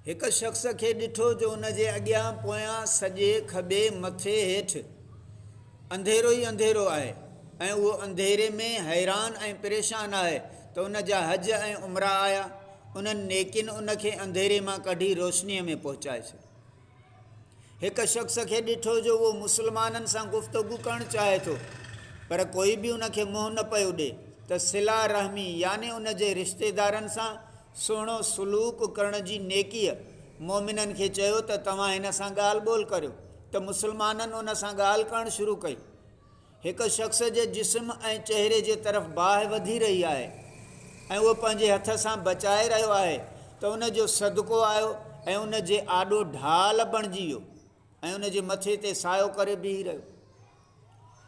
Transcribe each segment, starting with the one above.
هڪ شخص کي ڏٺو جو ان جي اڳيان پويان، سڄي، کٻي، مٿي، هيٺ انڌيرو ئي انڌيرو آهي ۽ اهو انڌيري ۾ حيران ۽ پريشان آهي ته ان جا حج ۽ عمرا آيا انهن نيڪين ان کي انڌيري مان ڪڍي روشنيء ۾ پهچائي ڇڏيو. هڪ شخص کي ڏٺو جو اهو مسلمانن سان گفتگو ڪرڻ چاهي ٿو پر ڪوئي به ان کي منهن نه پيو ڏي ته صلة رحمي يعني ان جي رشتيدارن سان سهڻو سلوڪ ڪرڻ جي نيڪيء مؤمنن کي چيو ته توهان هن سان ڳالهه ٻولهه ڪريو ته مسلمانن ان سان ڳالهه ڪرڻ شروع ڪئي. هڪ شخص جي جسم ۽ چهري جي طرف باهه وڌي رهي آهي ۽ اهو پنهنجي هٿ سان بچائي رهيو آهي ته ان جو صدقو آيو ۽ ان جي آڏو ڍال بڻجي ويو. ۽ ان جي مٿي تي سايو ڪري بيهي رهيو.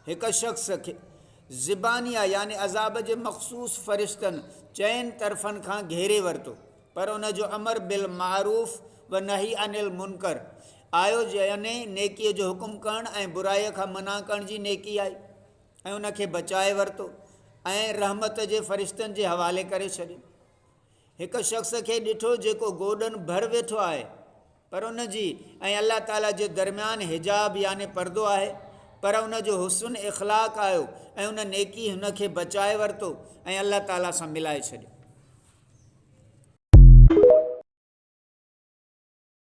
هڪ شخص کي زبانيه يعني عذاب جي مخصوص فرشتن چئن طرفن کان گهيري ورتو پر ان جو امر بالمعروف و نهي عن المنڪر آيو يعني نيڪي جو حڪم ڪرڻ ۽ برائي کان منع ڪرڻ جي نيڪي آئي ۽ ان کي بچائي ورتو ۽ رحمت جي فرشتن جي حوالي ڪري ڇڏيو. هڪ شخص کي ڏٺو جيڪو گوڏن ڀر ويٺو آهي. پر ان جي ۽ الله تعالي جي درميان حجاب يعني پردو آهي، پر ان جو حسن اخلاق آيو ۽ ان نيڪي هن کي بچائي ورتو ۽ الله تعالي سان ملائي ڇڏيو.